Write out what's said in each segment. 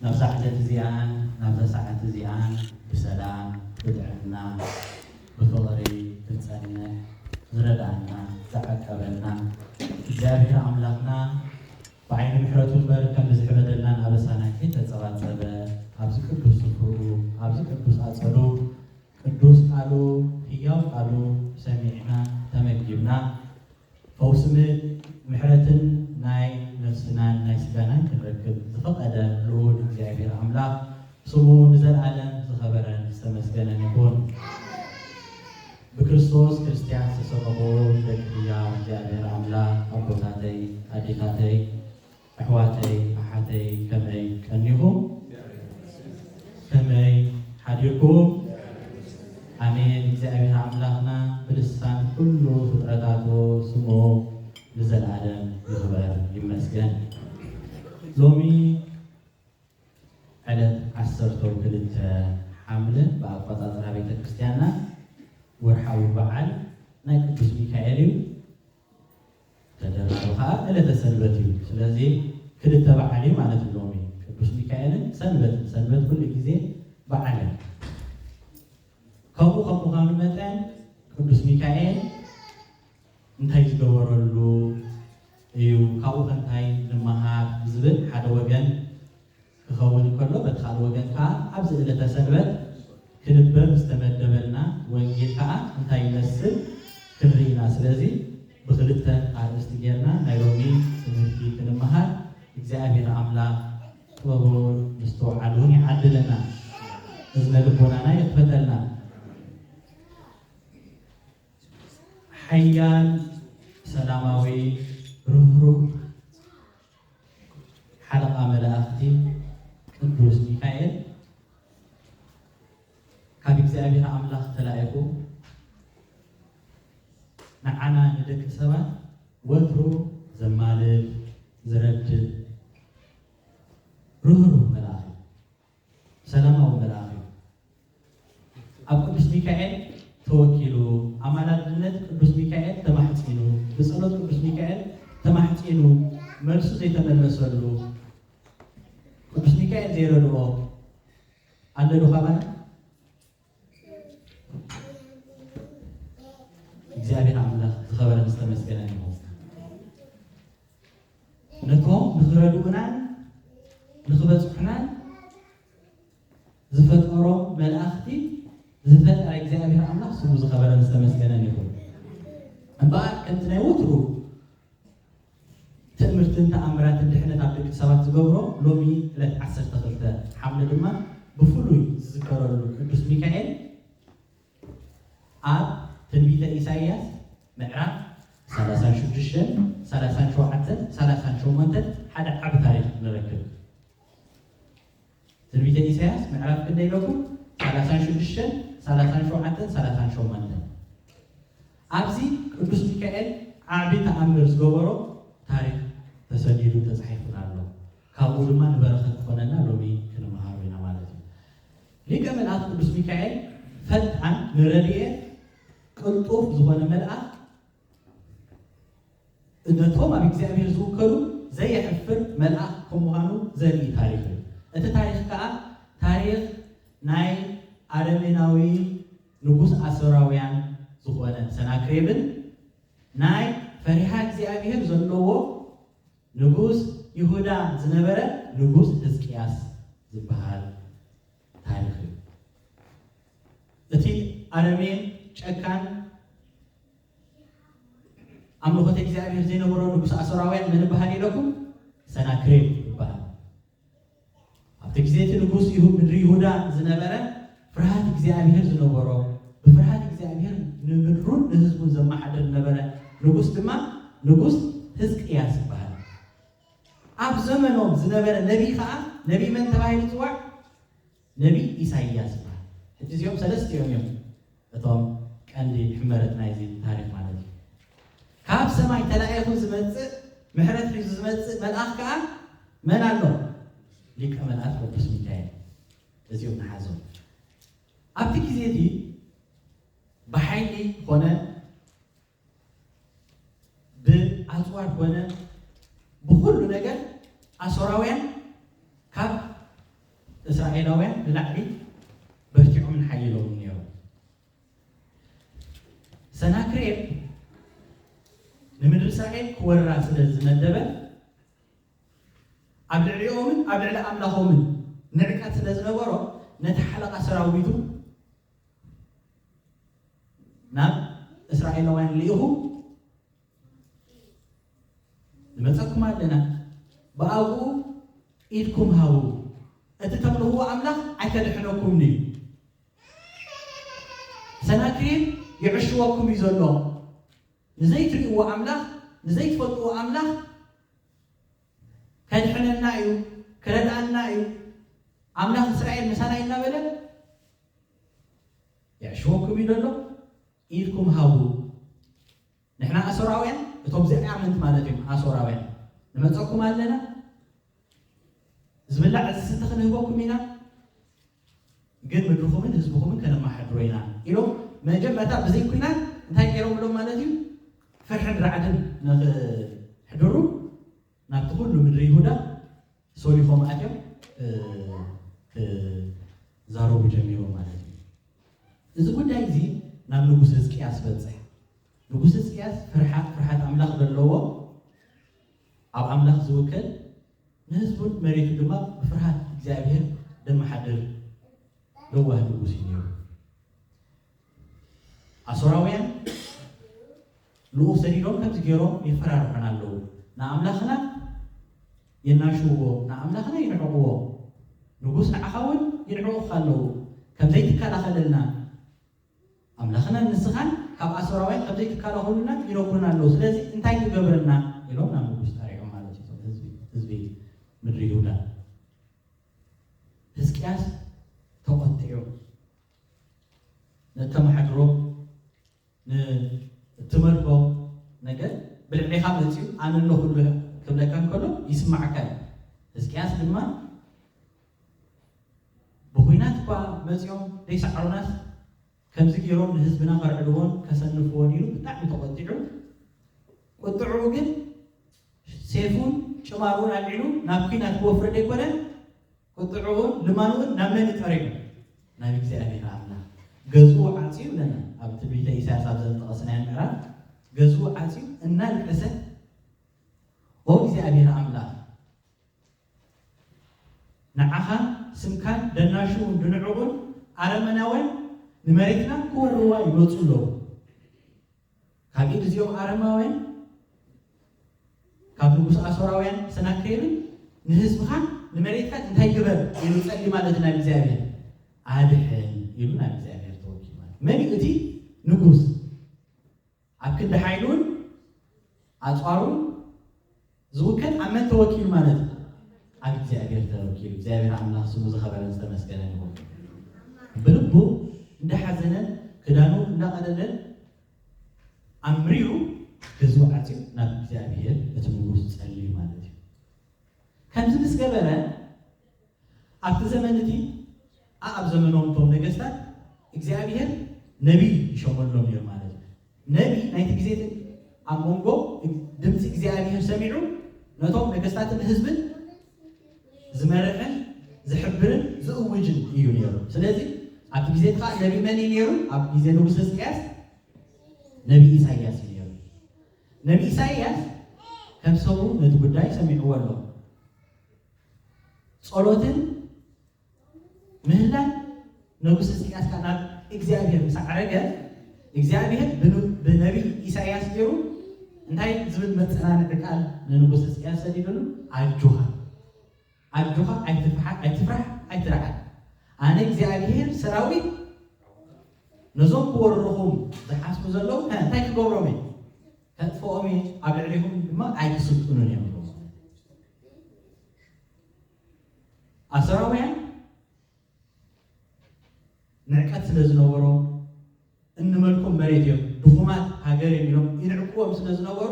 ናብዛ ዕለት እዚኣን ናብዛ ሰዓት እዚኣን ብሰላም ብጥዕና ብፍቕሪ ክንጸንሕ ዝረድኣና ዝዓቀበና እግዚኣብሔር ኣምላኽና ብዓይኒ ምሕረቱ እምበር ከም ብዝሕበደልናን ኣበሳና ከይተጸባጸበ ኣብዚ ቅዱስ ስፍርኡ ኣብዚ ቅዱስ ኣጸዱ ቅዱስ ቃሉ ህያው ቃሉ ሰሚዕና ተመጊብና ፈውሲ ምሕረትን ናይ ነፍስናን ናይ ስጋናን ክንረክብ ዝፈቀደ ልኡል እግዚኣብሔር ኣምላክ ስሙ ንዘልኣለም ዝከበረን ዝተመስገነን ይኩን። ብክርስቶስ ክርስትያን ዝተሰከምዎ ደቂ ህያው እግዚኣብሔር ኣምላክ ኣቦታተይ ኣዴታተይ፣ ኣሕዋተይ ኣሓተይ ከመይ ቀኒኹም ከመይ ሓዲርኩም ኣሜን እግዚኣብሔር ኣምላኽና ብልሳን ኩሉ ፍጥረታቱ ስሙ ንዘልኣለም ይኽበር ይመስገን ሎሚ ዕለት ዓሰርተው ክልተ ሓምለ ብኣቆፃፅራ ቤተክርስትያና ወርሓዊ በዓል ናይ ቅዱስ ሚካኤል እዩ ተደራቢ ከኣ ዕለተ ሰንበት እዩ። ስለዚ ክልተ በዓል እዩ ማለት እዩ ሎሚ ቅዱስ ሚካኤልን ሰንበትን። ሰንበት ኩሉ ግዜ በዓል እያ። ከምኡ ከም ምዃኑ መጠን ቅዱስ ሚካኤል እንታይ ዝገበረሉ እዩ፣ ካብኡኸ እንታይ ንመሃር ብዝብል ሓደ ወገን፣ ክኸውን እንከሎ በቲ ካልእ ወገን ከኣ ኣብዚ ዕለተ ሰንበት ክንበብ ዝተመደበልና ወንጌል ከኣ እንታይ ይመስል ክንርኢ ኢና ስለዚ ብኽልተ ኣርእስቲ ጌርና ናይ ሎሚ ትምህርቲ ክንመሃር እግዚኣብሔር ኣምላኽ ጥበቡን ምስትውዓሉን ይዓድለና እዝነ ልቦናና ይኽፈተልና ሓያል ሰላማዊ ርህሩህ ሓለቓ መላእኽቲ ቅዱስ ሚካኤል ካብ እግዚኣብሔር ኣምላኽ ተላኢኹ ንዓና ንደቂ ሰባት ወትሩ ዘማልድ ዝረድእ ርህሩህ መልኣኽ እዩ። ሰላማዊ መልኣኽ እዩ። ኣብ ቅዱስ ሚካኤል ተወኪሉ፣ ኣማላድነት ቅዱስ ሚካኤል ተማሕጺኑ፣ ብጸሎት ቅዱስ ሚካኤል ተማሕጺኑ መልሱ ዘይተመለሰሉ፣ ቅዱስ ሚካኤል ዘይረድኦ ኣሎዶ ካባና? እግዚኣብሔር ኣምላኽ ዝኸበረ ዝተመስገነ ይኹን። ነቶም ንኽረድኡናን ንኽበፅሑናን ዝፈጠሮም መላእኽቲ ዝፈጠረ እግዚኣብሔር ኣምላኽ ስሙ ዝኸበረ ዝተመስገነን ይኹን። እምበኣር ከምቲ ናይ ወትሩ ትእምርትን ተኣምራትን ድሕነት ኣብ ደቂ ሰባት ዝገብሮ ሎሚ ዕለት ዓሰርተ ክልተ ሓምለ ድማ ብፍሉይ ዝዝከረሉ ቅዱስ ሚካኤል ኣብ ትንቢተ ኢሳይያስ ምዕራፍ ሰላሳን ሽዱሽተን ሰላሳን ሸውዓተን ሰላሳን ሸሞንተን ሓደ ዓቢ ታሪኽ ንረክብ። ትንቢተ ኢሳያስ ምዕራፍ ክንደይ ኣለኩም ሰላሳን ሽዱሽተን ሰላሳን ሸውዓተን ሰላሳን ሸሞንተን ኣብዚ ቅዱስ ሚካኤል ዓቢ ተኣምር ዝገበሮ ታሪክ ተሰኒዱን ተጻሒፉን ኣሎ ካብኡ ድማ ንበረኸት ክኾነና ሎሚ ክንመሃሮ ኢና ማለት እዩ ሊቀ መልኣክ ቅዱስ ሚካኤል ፈጣን ንረድኤት ቅልጡፍ ዝኾነ መልኣክ ነቶም ኣብ እግዚኣብሔር ዝውከሉ ዘየሕፍር መልኣኽ ከም ምዃኑ ዘርኢ ታሪኽ እዩ። እቲ ታሪኽ ከኣ ታሪኽ ናይ ኣረሜናዊ ንጉስ ኣሶራውያን ዝኾነ ሰናክሬብን ናይ ፈሪሃ እግዚኣብሔር ዘለዎ ንጉስ ይሁዳ ዝነበረ ንጉስ ሕዝቅያስ ዝበሃል ታሪኽ እዩ። እቲ ኣረሜን ጨካን ኣምልኾተ እግዚኣብሔር ዘይነበሮ ንጉሰ ኣሶራውያን መን እበሃል ኢለኩም? ሰናክሬም ይበሃል። ኣብቲ ግዜ እቲ ንጉስ ይሁ- ምድሪ ይሁዳ ዝነበረ ፍርሃት እግዚኣብሔር ዝነበሮ ብፍርሃት እግዚኣብሔር ንምድሩን ንህዝቡን ዘመሓድር ዝነበረ ንጉስ ድማ ንጉስ ህዝቅያስ ይበሃል። ኣብ ዘመኖም ዝነበረ ነቢይ ከዓ ነቢይ መን ተባሂሉ ይፅዋዕ? ነቢይ ኢሳይያስ ይበሃል። ሕጂ እዚኦም ሰለስቲኦም እዮም እቶም ቀንዲ ሕመረት ናይዚ ታሪኽ ማለት እዩ። ካብ ሰማይ ተላኢኹ ዝመጽእ ምሕረት ሒዙ ዝመጽእ መልኣኽ ከኣ መን ኣሎ? ሊቀ መላእክት ቅዱስ ሚካኤል እዚኦም ንሓዞም። ኣብቲ ግዜ እቲ ብሓይሊ ኮነ ብኣጽዋር ኮነ ብኹሉ ነገር ኣሶራውያን ካብ እስራኤላውያን ንላዕሊ በርቲዖምን ሓይሎምን ነይሮም። ሰናክሬም ንምድሪ እስራኤል ክወራ ስለ ዝመደበ ኣብ ልዕሊኦምን ኣብ ልዕሊ ኣምላኾምን ንዕቀት ስለ ዝነበሮ ነቲ ሓለቓ ሰራዊቱ ናብ እስራኤላውያን ልኢኹ ንመጸኩም ኣለና ብኣግኡ ኢድኩም ሃቡ እቲ ተምልኽዎ ኣምላኽ ኣይከድሕነኩምን እዩ ሰናክሬም ይዕሽወኩም እዩ ዘሎ ንዘይትርእይዎ ኣምላኽ ንዘይትፈልጥዎ ኣምላኽ ከድሕነና እዩ ክረድኣና እዩ ኣምላኽ እስራኤል ምሳና እዩ እናበለ የዕሽወኩም እዩ ዘሎ ኢድኩም ሃቡ ንሕና ኣሶራውያን እቶም ዘይኣመንቲ ማለት እዮም ኣሶራውያን ንመፀኩም ኣለና ዝብላዕ ዝስተ ክንህበኩም ኢና ግን ምድርኹምን ህዝብኹምን ከነማሓድሮ ኢና ኢሎም መጀመርታ ብዘይ ኩናት እንታይ ገይሮምሎም ማለት እዩ ፍርሕን ራዕድን ንክሕድሩ ናብቲ ኩሉ ምድሪ ይሁዳ ሶሊኾም ኣትዮም ክዛረቡ ጀሚሮም ማለት እዩ እዚ ጉዳይ እዚ ናብ ንጉስ ህዝቅያስ በፅሕ ንጉስ ህዝቅያስ ፍርሓት ኣምላኽ ዘለዎ ኣብ ኣምላኽ ዝውክል ንህዝቡን መሬቱን ድማ ብፍርሃት እግዚኣብሄር ዘመሓድር ለዋህ ንጉስ እዩ ነይሩ። ኣሶራውያን ልኡኽ ሰዲዶም ከምዚ ገይሮም የፈራርሑና ኣለዉ፣ ንኣምላኽና የናሽውዎ፣ ንኣምላኽና ይንዕቕዎ፣ ንጉስ ንዓኻ እውን ይንዕቑኻ ኣለዉ፣ ከም ዘይትከላኸለልና ኣምላኽናን ንስኻን ካብ ኣሶራውያን ኸም ዘይትካላኸሉልና ይነግሩና ኣለዉ፣ ስለዚ እንታይ ትገብረና? ኢሎም ናብ ንጉስ ጠሪዖም ማለት እዩ፣ እቶም ህዝቢ ህዝቢ ምድሪ ይሁዳ። ህዝቅያስ ተቖጢዑ ነተማሓድሮ ንእትመልኮ ነገር ብልዕሌኻ መጺኡ ኣነ ኣለኹልህ ክብለካ እንከሎ ይስምዓካ እዩ፣ ህዝቅያስ ድማ። ብኹናት እኳ መጽዮም ደይሰዓሩናስ ከምዚ ጌሮም ንህዝብና ከርዕድዎን ከሰንፍዎን ኢሉ ብጣዕሚ ተቖጢዑ ቁጥዕኡ ግን ሴፉን ጭማሮኡን ኣልዒሉ ናብ ኩናት ክወፍር ደይኮነ ቁጥዕኡን ልማኑኡን ናብ መን እዩ ጠሪዑ ናብ እግዚኣብሔር ኣምላኽ ገዝኡ ዓጽዩ ይብለና ኣብ ትንቢተ ኢሳያስ ኣብ ዘንጠቐስናዮ ምዕራፍ ገዝኡ ዓጽዩ እናልቀሰ ኦ እግዚኣብሔር ኣምላኽ ንዓኻን ስምካን ደናሹውን ድንዕቑን ኣረመናውያን ንመሬትና ክወርዋ ይመጹ ኣለዉ። ካብ ኢድ እዚኦም ኣረማውያን ካብ ንጉስ ኣሶራውያን ሰናክሬምን ንህዝብኻን ንመሬትካን እንታይ ግበር ኢሉ ጸሊ ማለት ናብ እግዚኣብሔር ኣድሕን ኢሉ ናብ እግዚኣብሔር ተወኪል ማለት መን እዩ እቲ ንጉስ ኣብ ክንዲ ሓይሉን ኣጽዋሩን ዝውከል ኣብ መን ተወኪሉ ማለት እዩ? ኣብ እግዚኣብሔር ተወኪሉ። እግዚኣብሔር ኣምላኽ ስሙ ዝኸበረን ዝተመስገነን ይኹን። ብልቡ እንዳሓዘነን ክዳኑ እንዳቐደደን ኣምሪሩ ህዝቡ ዓፅዩ ናብ እግዚኣብሔር እቲ ንጉስ ጸልዩ ማለት እዩ። ከምዚ ምስ ገበረ ኣብቲ ዘመን እቲ ኣኣብ ዘመኖም እቶም ነገስታት እግዚኣብሄር ነቢይ ይሾመሎም እዮም ማለት እዩ። ነቢይ ናይቲ ግዜ ግን ኣብ መንጎ ድምጺ እግዚኣብሄር ሰሚዑ ነቶም ነገስታትን ህዝብን ዝመርሕን ዝሕብርን ዝእውጅን እዩ ነይሩ። ስለዚ ኣብቲ ግዜ እቲ ከዓ ነቢይ መን እዩ ነይሩ? ኣብ ግዜ ንጉስ ህዝቅያስ ነቢይ ኢሳይያስ እዩ ነይሩ። ነቢይ ኢሳይያስ ከም ሰቡ ነቲ ጉዳይ ሰሚዕዎ ኣሎ። ጸሎትን ምህላን ንጉስ ሕዝቅያስ ካብ ናብ እግዚኣብሔር ምስ ዓረገ እግዚኣብሔር ብነቢይ ኢሳይያስ ገይሩ እንታይ ዝብል መፀናንዒ ቃል ንንጉስ ሕዝቅያስ ሰዲዱሉ ኣጆኻ ኣጆኻ ኣይትፍራሕ ኣይትርዓድ ኣነ እግዚኣብሔር ሰራዊት ነዞም ክወርኹም ዝሓስቡ ዘለዉ እንታይ ክገብሮም እዩ ከጥፍኦም እየ ኣብ ልዕሊኹም ድማ ኣይትስልጥኑን እዮም ዝብሉ ኣሰራውያን ንዕቀት ስለ ዝነበሮም እንመልኩም መሬት እዮም ድኹማት ሃገር እዮም ኢሎም ይንዕቅዎም ስለ ዝነበሩ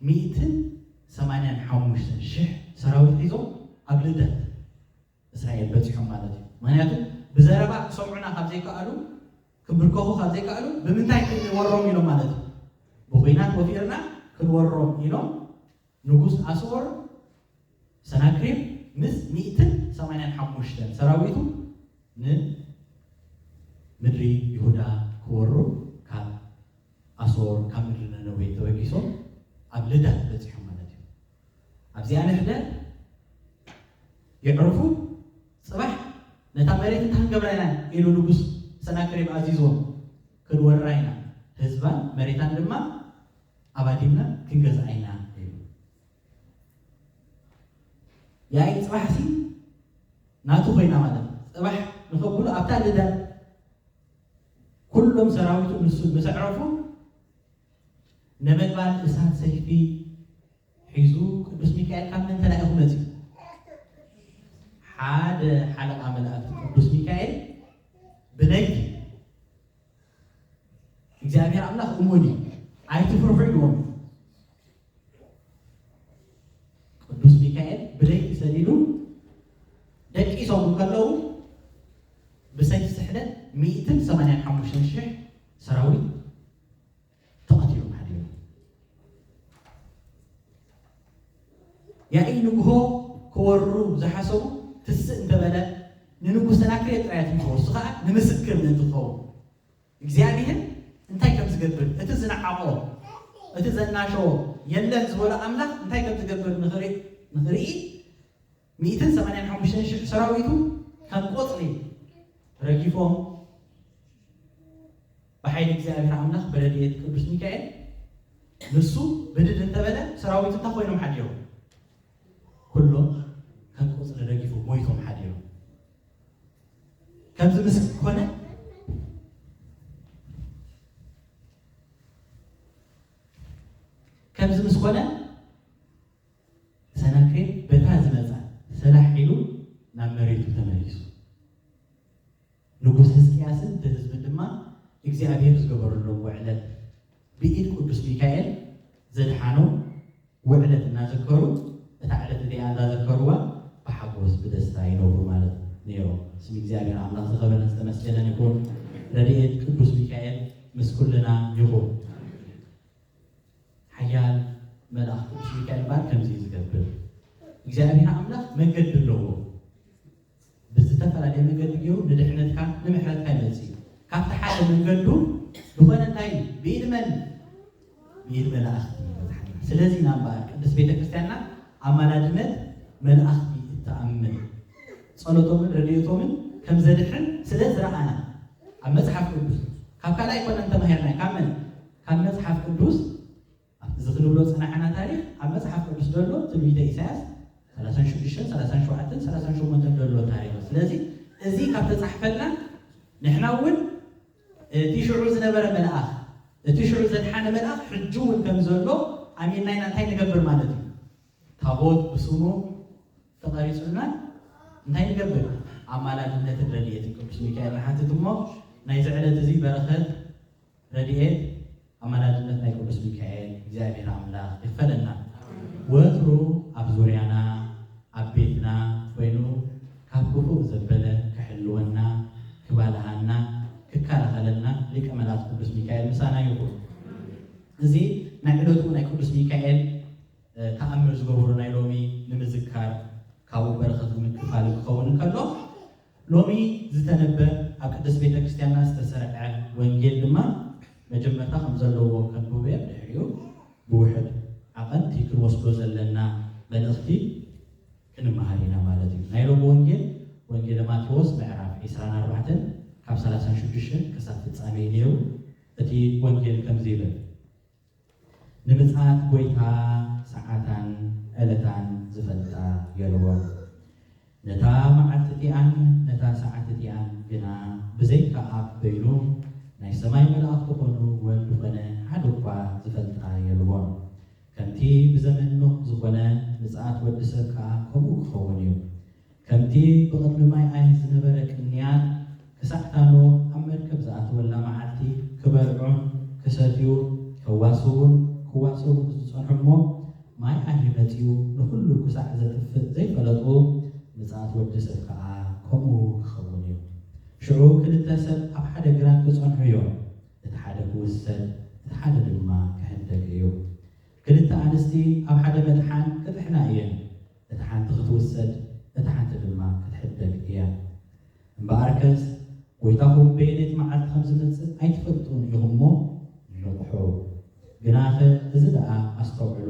ሚእትን ሰማንያን ሓሙሽተን ሽሕ ሰራዊት ሒዞም ኣብ ልደት እስራኤል በጺሖም ማለት እዩ ምክንያቱ ብዘረባ ክሰምዑና ካብ ዘይከኣሉ ክብርከኹ ካብ ዘይከኣሉ ብምንታይ ክንወሮም ኢሎም ማለት እዩ ብኹናት ወፊርና ክንወሮም ኢሎም ንጉስ ኣስወር ሰናክሬም ምስ ሚእትን ሰማንያን ሓሙሽተን ሰራዊቱ ንምድሪ ይሁዳ ክወሩ ካብ ኣስወር ካብ ምድሪ ነነዌ ተበጊሶም ኣብ ልዳት በጺሖም ማለት እዩ ኣብዚኣ ንሕደር የዕሩኹ ጽባሕ ነታ መሬት እንተኽንገብራ ኢና ኢሉ ንጉስ ሰናክሬም ኣዚዝዎም፣ ክንወራ ኢና፣ ህዝባን መሬታን ድማ ኣባዲምና ክንገዝኣ ኢና ኢሉ። ያኢ ጽባሕሲ ናቱ ኮይና ማለት እዩ። ጽባሕ ንኸብሉ ኣብታ ልደት ኩሎም ሰራዊቱ ንሱ ምስ ኣዕረፉ ነበልባል እሳት ሰይፊ ሒዙ ቅዱስ ሚካኤል ካብ ምንታይ ዳኣ ኢኹ መጺኡ? ሓደ ሓለቓ መላእክቲ ቅዱስ ሚካኤል ብነግዲ እግዚኣብሔር ኣምላኽ እሙን እዩ ኣይትፍርሑ ኢልዎም ቅዱስ ሚካኤል ብለይቲ ሰዲዱ ደቂሶም እንከለዉ ብሰይፍ ስሕለት ሚእትን ሰማንያን ሓሙሽተን ሽሕ ሰራዊት ተቐቲሎም ሓዲሮም። ያኢ ንግሆ ክወርሩ ዝሓሰቡ ትስእ እንተበለ ንንጉስ ሰናክሬም ጥራይ ኣትሪፎ እሱ ኸኣ ንምስክር ምእንቲ ክኸውን እግዚኣብሄር እንታይ ከም ዝገብር እቲ ዝነዓቖ እቲ ዘናሸዎ የለን ዝበሎ ኣምላኽ እንታይ ከም ዝገብር ንኽርኢ ሚእትን ሰማንያን ሓሙሽተን ሽሕ ሰራዊቱ ከም ቆጽሊ ረጊፎም ብሓይሊ እግዚኣብሔር ኣምላኽ ብረድኤት ቅዱስ ሚካኤል ንሱ ብድድ እንተበለ ሰራዊቱ እንታይ ኮይኖም ሓዲሮም ኩሎም ከም ቆጽሊ ረጊፎም ሞይቶም ሓዲሮም ከምዚ ምስ ኮነ ከምዚ ምስ ኮነ ሰናክሬም በታ ዝመጽኣ ሰላሕ ኢሉ ናብ መሬቱ ተመሊሱ። ንጉስ ህዝቅያስን እቲ ህዝብን ድማ እግዚኣብሄር ዝገበረሎም ውዕለት ብኢድ ቅዱስ ሚካኤል ዘድሓኖም ውዕለት እናዘከሩ እታ ዕለት እቲኣ እንዳዘከርዋ ብሓጎስ ብደስታ ይነብሩ ማለት ነይሮም። ስም እግዚኣብሄር ኣምላኽ ዝኸበረን ዝተመስገነን ይኹን። ረድኤት ቅዱስ ሚካኤል ምስ ኩልና ይኹን። ሓያል መልኣኽ ቅዱስ ሚካኤል እምበኣር ከምዚ እዩ ዝገብር፣ እግዚኣብሄር ኣምላኽ መንገዲ ኣለዎ፣ ብዝተፈላለየ መንገዲ ገይሩ ንድሕነትካ ንምሕረትካ ይመጽእ እዩ። ካብቲ ሓደ መንገዱ ዝኾነ እንታይ እዩ? ብኢድ መን? ብኢድ መላእኽቲ እዩ ዝበጽሓና። ስለዚ ኢና እምበኣር ቅድስት ቤተ ክርስቲያንና ኣማላድነት መላእኽቲ እትኣምን ጸሎቶምን ረድኤቶምን ከም ዘድሕን ስለ ዝረኣና ኣብ መጽሓፍ ቅዱስ ካብ ካልእ ኣይኮነን ተማሂርናዮ ካብ መን? ካብ መጽሓፍ ቅዱስ ኣብቲ እዚ ክንብሎ ዝጸናሕና ታሪኽ ኣብ መጽሓፍ ቅዱስ ዘሎ ትንቢተ ኢሳያስ ሰላሳን ሽዱሽተን ሰላሳን ሸውዓተን ሰላሳን ሸሞንተን ዘሎ ታሪኽ እዩ። ስለዚ እዚ ካብ ተጻሕፈልና ንሕና እውን እቲ ሽዑ ዝነበረ መልኣኽ እቲ ሽዑ ዘድሓነ መልኣኽ ሕጂ እውን ከም ዘሎ ኣሚንና ኢና እንታይ ንገብር ማለት እዩ ታቦት ብስሙ ተቐሪጹልና እንታይ ንገብር ኣማላድነትን ረድኤትን ቅዱስ ሚካኤል ንሓትት እሞ ናይዚ ዕለት እዚ በረኸት ረድኤት ኣማላድነት ናይ ቅዱስ ሚካኤል እግዚኣብሔር ኣምላኽ ይኽፈለና ወትሩ ኣብ ዙርያና ኣብ ቤትና ኮይኑ ካብ ክፉእ ዘበለ ክሕልወና ክባልሃና ክከላኸለልና ሊቀ መላእክት ቅዱስ ሚካኤል ምሳና ይኹን። እዚ ናይ ዕለቱ ናይ ቅዱስ ሚካኤል ተኣምር ዝገበሩ ናይ ሎሚ ንምዝካር ካብኡ በረኸት ንምክፋል ክኸውን ከሎ ሎሚ ዝተነበ ኣብ ቅድስት ቤተ ክርስቲያንና ዝተሰርዐ ወንጌል ድማ መጀመርታ ከም ዘለዎ ከንብቦ እየ ብድሕሪኡ ብውሑድ ዓቐን እቲ ክንወስዶ ዘለና መልእኽቲ ክንመሃር ኢና ማለት እዩ። ናይ ሎሚ ወንጌል ወንጌለ ማቴዎስ ምዕራፍ ዒስራን ኣርባዕተን ካብ ሰላሳን ሽዱሽተን ክሳብ ፍጻሜ እዩ ነይሩ። እቲ ወንጌል ከምዚ ይብል። ንምጽኣት ጐይታ ሰዓታን ዕለታን ዚፈልጣ የልቦን። ነታ መዓልቲ እቲኣን ነታ ሰዓት እቲኣን ግና ብዘይካ ኣብ በይኑ ናይ ሰማይ መላእኽቲ ዀኑ ወልድ ዀነ ሓደ እኳ ዚፈልጣ የልቦን። ከምቲ ብዘመን ኖህ ዝዀነ፣ ምጽኣት ወዲ ሰብ ከኣ ከምኡ ኪኸውን እዩ። ከምቲ ብቕድሚ ማይ ኣይን ዝነበረ ቅንያት፣ ክሳዕ እታ ኖህ ኣብ መርከብ ዝኣተወላ መዓልቲ ክበልዑን ክሰትዩ፣ ከዋስቡን ክዋሰቡን ዝጸንሑ እሞ ማይ ኣይሂ መጺኡ ንኹሉ ክሳዕ ዘጥፍእ ዘይፈለጡ፣ ምጽኣት ወዲ ሰብ ከኣ ከምኡ ክኸውን እዩ። ሽዑ ክልተ ሰብ ኣብ ሓደ ግራት ክጸንሑ እዮም፣ እቲ ሓደ ክውሰድ እቲ ሓደ ድማ ክሕደግ እዩ። ክልተ ኣንስቲ ኣብ ሓደ መጥሓን ክጥሕና እየን። እታ ሓንቲ ክትውሰድ እታ ሓንቲ ድማ ክትሕደግ እያ። እምበኣርከስ ጐይታኹም በየነይቲ መዓልቲ ከም ዝመጽእ ኣይትፈልጡን ኢኹም'ሞ ንቕሑ። ግናኸ እዚ ደኣ ኣስተውዕሉ።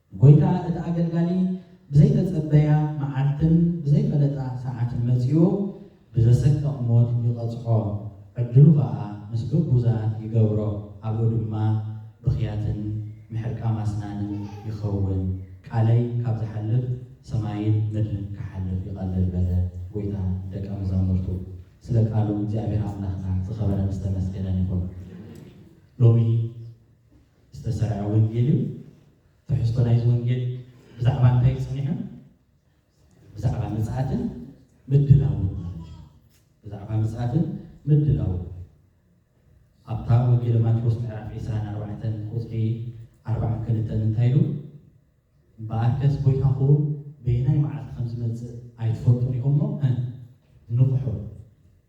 ጐይታ እቲ ኣገልጋሊ ብዘይተጸበያ መዓልትን ብዘይፈለጣ ሰዓትን መጺኡ ብዘሰቅቕ ሞት ይቐጽዖ፣ ዕድሉ ኸኣ ምስ ግቡዛት ይገብሮ፣ ኣብኡ ድማ ብኽያትን ምሕርቃም ኣስናንን ይኸውን። ቃለይ ካብ ዝሓልፍ ሰማይን ምድርን ክሓልፍ ይቐልል በለ ጐይታ ንደቀ መዛሙርቱ። ስለ ቃሉ እግዚኣብሔር ኣምላኽና ዝኸበረን ዝተመስገነን ይኹን። ሎሚ ዝተሰርዐ ወንጌል እዩ። ትሕዝቶ ናይዚ ወንጌል ብዛዕባ እንታይ እዩ ጸኒሑ? ብዛዕባ ምጽኣትን ምድላውን ማለት እዩ። ብዛዕባ ምጽኣትን ምድላውን ኣብታ ወንጌል ማቴዎስ ምዕራፍ ዒስራን ኣርባዕተን ቁጽሪ ኣርባዓን ክልተን እንታይ ኢሉ እምበኣርከስ ጐይታኹም በየናይ መዓልቲ ከም ዝመጽእ ኣይትፈልጡን ኢኹም እሞ እ ንቕሑ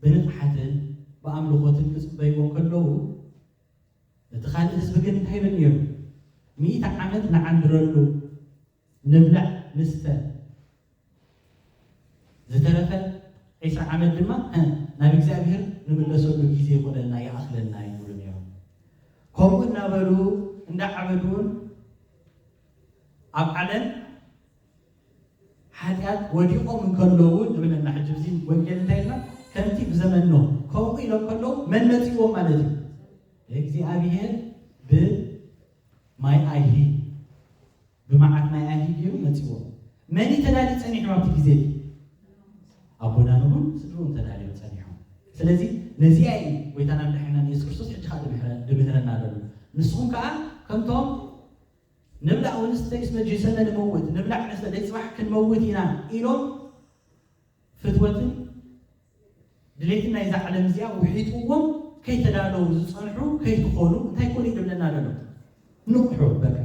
ብንቕሓትን ብኣምልኾትን ክጽበይዎ እንከለዉ፣ እቲ ካልእ ህዝቢ ግን እንታይ ይብል ነይሩ? ሚእቲ ዓመት ንዓንድረሉ፣ ንብላዕ ንስተ፣ ዝተረፈ ዕስራ ዓመት ድማ ናብ እግዚኣብሄር ንምለሰሉ ግዜ ይኹነና፣ ይኣኽለና እዩ ዝብሉ ነይሮም። ከምኡ እናበሉ እንዳዓበዱ'ውን ኣብ ዓለም ሓጢኣት ወዲቆም እንከለዉ ንብለና ሕጂ እዚ ወንጌል እንታይ ኢልና ከምቲ ብዘመን ኖህ ከምኡ ኢሎም ከለዉ መን መጺእዎም ማለት እዩ እግዚኣብሄር ብ ማይ ኣይሂ ብመዓት ማይ ኣይሂ ገይሩ መጺእዎም መን እዩ ተዳልዩ ጸኒሑ ኣብቲ ግዜ እቲ ኣቦና ኖህን ስድርኡን ተዳልዮም ጸኒሖም ስለዚ ነዚኣ እዩ ጎይታና መድሓኒናን የሱስ ክርስቶስ ሕጂ ከዓ ድምህረና ኣለሉ ንስኹም ከዓ ከምቶም ንብላዕ ወንስ ደቂስ መጅሊሰነ ንመውት ንብላዕ ንስተ ደይ ፅባሕ ክንመውት ኢና ኢሎም ፍትወትን ድሌትን ናይዛ ዓለም እዚኣ ውሒጥዎም ከይተዳለዉ ዝፀንሑ ከይትኾኑ እንታይ ኮን እዩ ድብለና ደሎ ንቕሑ በቃ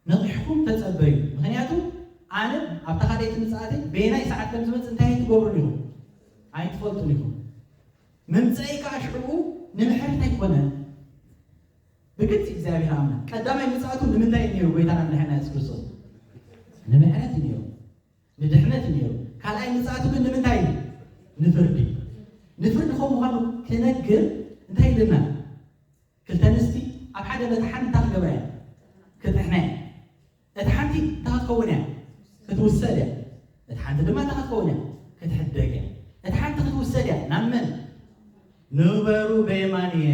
ነቒሕኩም ተፀበዩ ምክንያቱ ኣነ ኣብታ ካደይቲ ምፅኣተይ በየናይ ሰዓት ከም ዝመፅእ እንታይ ኣይትገብሩን ኢኹም ኣይትፈልጡን ኢኹም ምምፀኢ ከዓ ሽዕኡ ንምሕረት ኣይኮነን ብግልጺ እግዚኣብሔር ኣምላክ ቀዳማይ ምጽኣቱ ንምንታይ እዩ ነይሩ ጎይታና መድሓኒና የሱስ ክርስቶስ ንምሕረት እዩ ነይሩ ንድሕነት እዩ ነይሩ ካልኣይ ምጽኣቱ ግን ንምንታይ እዩ ንፍርዲ እዩ ንፍርዲ ከም ምዃኑ ክነግር እንታይ ኢልና ክልተ ኣንስቲ ኣብ ሓደ መጥሓን እንታይ ክገብራ እየን ክጥሕና እየን እቲ ሓንቲ እንታይ ክትከውን እያ ክትውሰድ እያ እቲ ሓንቲ ድማ እንታይ ክትከውን እያ ክትሕደግ እያ እቲ ሓንቲ ክትውሰድ እያ ናብ መን ንበሩ በየማን እየ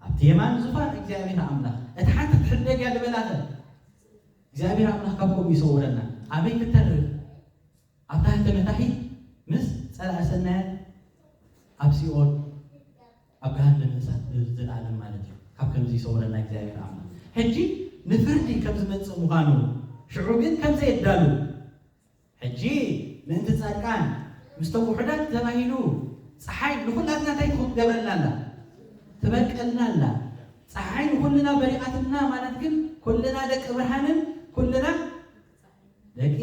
ኣብቲ የማን ዙፋን እግዚኣብሔር ኣምላኽ እታ ሓንቲ ትሕደግ እያ ዝበላኸ እግዚኣብሔር ኣምላኽ ካብ ከምኡ ይሰውረና። ኣበይ ክትተርፍ ኣብ ታሕቲ መታሒት ምስ ጸላኢ ሰናያት ኣብ ሲኦል ኣብ ገሃነመ እሳት ንዘለኣለም ማለት እዩ። ካብ ከምዚ ይሰውረና እግዚኣብሔር ኣምላኽ። ሕጂ ንፍርዲ ከም ዝመጽእ ምዃኑ ሽዑ ግን ከም ዘየዳሉ ሕጂ ምእንቲ ጻድቃን ምስቶም ውሑዳት ተባሂሉ ጸሓይ ንኹላትና እንታይ ትገብረልና ኣላ ትበርቀልና ኣላ ጸሓይ ንኹልና በሪቓትልና ማለት ግን ኩልና ደቂ ብርሃንን ኩልና ደቂ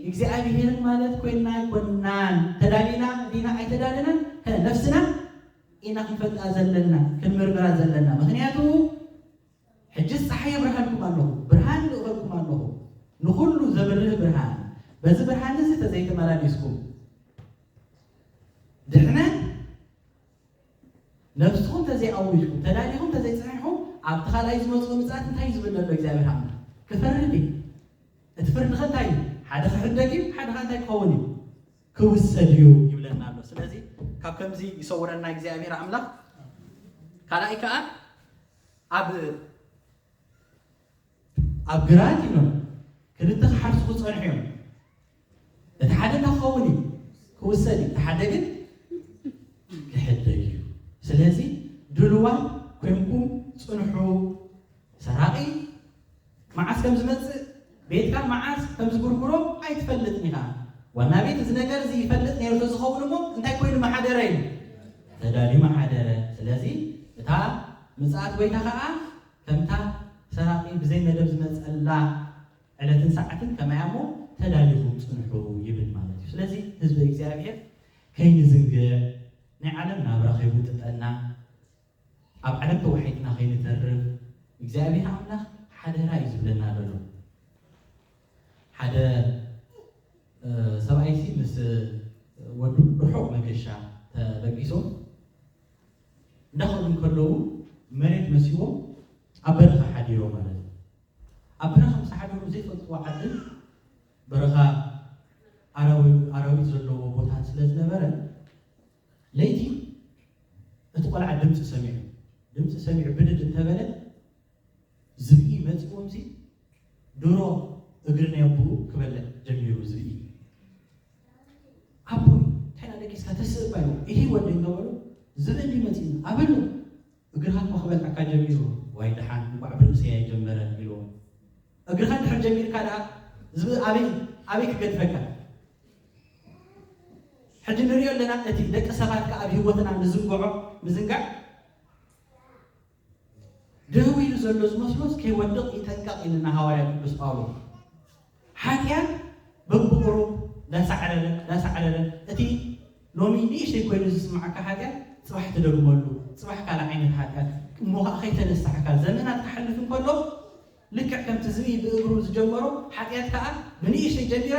እግዚኣብሔርን ማለት ኮይና ኣይኮናን ተዳሊና ዲና ኣይተዳለናን ነፍስና ኢና ክንፈልጣ ዘለና ክንምርምራ ዘለና ምክንያቱ ሕጅስ ጸሓይ የብርሃልኩም ኣሎኹ፣ ብርሃን ይልእኸልኩም ኣሎኹ፣ ንኹሉ ዘብርህ ብርሃን፣ በዚ ብርሃን'ዚ ተዘይተመላሊስኩም፣ ድሕነት ነፍስኹም ተዘይኣዊጅኩም፣ ተዳሊኹም ተዘይጸሒሕኹም፣ ኣብቲ ካልኣይ ዝመጽኦ ምጽኣት እንታይ እዩ ዝብል ዘሎ እግዚኣብሔር ኣምላኽ? ክፈርድ እዩ። እቲ ፍርድኸ እንታይ እዩ? ሓደ ክሕደግ እዩ፣ ሓደ ከኣ እንታይ ክኸውን እዩ? ክውሰድ እዩ ይብለና ኣሎ። ስለዚ ካብ ከምዚ ይሰውረና እግዚኣብሔር ኣምላኽ። ካልኣይ ከኣ ኣብ ኣብ ግራት ኢሎም ክልተ ክሓርሱ ክጸንሑ እዮም። እቲ ሓደ እንታይ ክኸውን እዩ? ክውሰድ እዩ። እቲ ሓደ ግን ክሕደግ እዩ። ስለዚ ድሉዋት ኮይንኩም ጽንሑ። ሰራቒ መዓስ ከም ዝመጽእ ቤትካ መዓስ ከም ዝጉርጉሮ ኣይትፈልጥን ኢኻ። ዋና ቤት እዚ ነገር እዚ ይፈልጥ ነይሩ ተዝኸውን እሞ እንታይ ኮይኑ ምሓደረ እዩ? ተዳልዩ ምሓደረ። ስለዚ እታ ምጽኣት ጐይታ ኸኣ ከምታ ሰራቒ ብዘይ መደብ ዝመጸላ ዕለትን ሰዓትን ከማይ እያ እሞ ተዳሊኹም ጽንሑ ይብል ማለት እዩ። ስለዚ ህዝበ እግዚኣብሄር ከይንዝንግዕ ናይ ዓለም ናብራ ከይጉጥጠና ኣብ ዓለም ተዋሒጥና ከይንተርፍ እግዚኣብሔር ኣምላኽ ሓደራ እዩ ዝብለና ዘሎ። ሓደ ሰብኣይ ሲ ምስ ወዱ ርሑቕ መገሻ ተበጊሶም እንዳኸዱ እንከለዉ መሬት መሲዎም ኣብ በረኻ ሓዲሮም ማለት እዩ። ኣብ በረኻ ምስ ሓደሩ ዘይፈልጥዎ ዓድን በረኻ ኣራዊት ዘለዎ ቦታን ስለ ዝነበረ ለይቲ እቲ ቆልዓ ድምፂ ሰሚዑ ድምፂ ሰሚዑ ብድድ እንተበለ ዝብኢ መፂኦምሲ ድሮ እግሪ ናይ ኣቦኡ ክበልዕ ጀሚሩ ዝብኢ ኣቦይ ከና ደቂስካ ተስእባ ኢሉ ይሂ ወደ እንተበሉ ዝብኢ እንዲ መፂኡ ኣበሉ እግርኻ እኮ ክበልዐካ ጀሚሩ ዋይ ደሓን እንኳዕ ብርእሰይ ኣይጀመረ ኢልዎ እግርኻ እንድሕር ጀሚርካ ደኣ ዝብኢ ኣበይ ኣበይ ክገድፈካ ሕጂ ንርእዮ ኣለና እቲ ደቂ ሰባት ከኣ ኣብ ሂወትና ንዝንግዖ ምዝንጋዕ ደው ኢሉ ዘሎ ዝመስሎስ ከይወድቅ ይጠንቀቅ ኢልና ሃዋርያ ቅዱስ ጳውሎስ ሓጢኣት በብቁሩብ ዳሳዕረረ ዳሳዕረረ እቲ ሎሚ ንእሽተይ ኮይኑ ዝስምዓካ ሓጢኣት ጽባሕ ትደግመሉ ጽባሕ ካልእ ዓይነት ሓጢኣት እሞ ከኣ ከይተነሳሕካ ዘመናት ክሓልፍ እንከሎ ልክዕ ከምቲ ዝብኢ ብእግሩ ዝጀመሮ ሓጢኣት ከኣ ብንእሽተይ ጀሚራ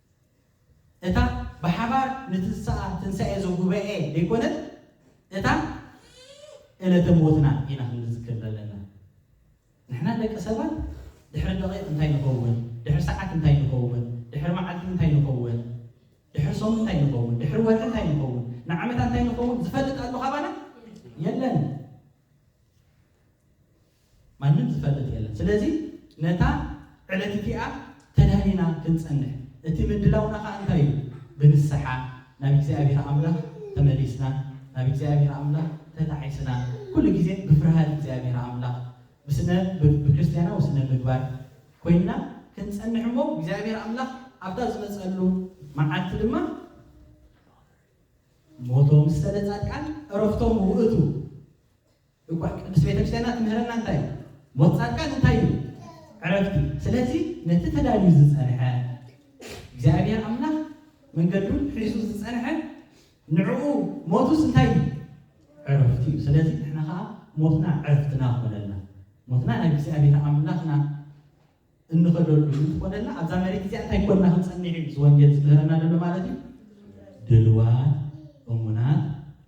እታ ብሓባር ንትንሳኣ ትንሳኤ እዚ ጉባኤ ደይኮነት እታ እለተ ሞትና ኢና ክንዝክር ዘለና ንሕና ደቂ ሰባት ድሕሪ ደቂቅ እንታይ ንከውን ድሕሪ ሰዓት እንታይ ንከውን ድሕሪ መዓልቲ እንታይ ንከውን ድሕሪ ሰሙን እንታይ ንከውን ድሕሪ ወርሒ እንታይ ንከውን ንዓመታ እንታይ ንከውን ዝፈልጥ ኣሎ ካባና የለን ማንም ዝፈልጥ የለን። ስለዚ ነታ ዕለት እቲኣ ተዳሊና ክንጸንሕ፣ እቲ ምድላውና ከኣ እንታይ እዩ? ብንስሓ ናብ እግዚኣብሄር ኣምላኽ ተመሊስና፣ ናብ እግዚኣብሄር ኣምላኽ ተጣዒስና፣ ኩሉ ግዜ ብፍርሃት እግዚኣብሄር ኣምላኽ፣ ብስነ ብክርስትያናዊ ስነ ምግባር ኮይንና ክንጸንሕ እሞ እግዚኣብሄር ኣምላኽ ኣብታ ዝመጸሉ መዓልቲ ድማ ሞቶም ሰለ ጻድቃን ዕረፍቶም ውእቱ እኳ ቅድስት ቤተክርስቲያና ትምህረና እንታይ እዩ? ሞት ጻድቃን እንታይ እዩ? ዕረፍት እዩ። ስለዚ ነቲ ተዳልዩ ዝጸንሐ እግዚኣብሔር ኣምላኽ መንገዱ ሒዙ ዝጸንሐ ንዕኡ ሞቱስ እንታይ እዩ? ዕረፍት እዩ። ስለዚ ንሕና ከኣ ሞትና ዕረፍትና ክኾነልና ሞትና ናብ እግዚኣብሔር ኣምላኽና እንኸደሉ እንተኾነና ኣብዛ መሬት እዚኣ እንታይ ኮንና ክንጸንዕ እዩ እዚ ወንጌል ዝምህረና ዘሎ ማለት እዩ? ድልዋት፣ እሙናት፣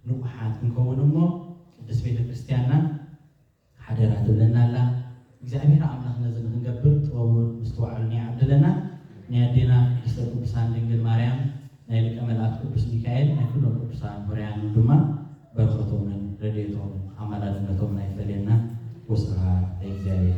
ንቑሓት ክንከውን እሞ ቅድስት ቤተ ክርስቲያንና ሓደራ ትብለና ኣላ። እግዚኣብሔር ኣምላኽ ነዚ ንኽንገብር ጥበቡን ምስትውዓሉን ይዓድለና። ናይ ኣዴና ቅድስተ ቅዱሳን ድንግል ማርያም፣ ናይ ሊቀ መላእክት ቅዱስ ሚካኤል፣ ናይ ኩሎም ቅዱሳን ሆርያንን ድማ በረኸቶምን ረድኤቶምን ኣማላድነቶምን ኣይፈለየና። ወስብሐት ለእግዚኣብሔር።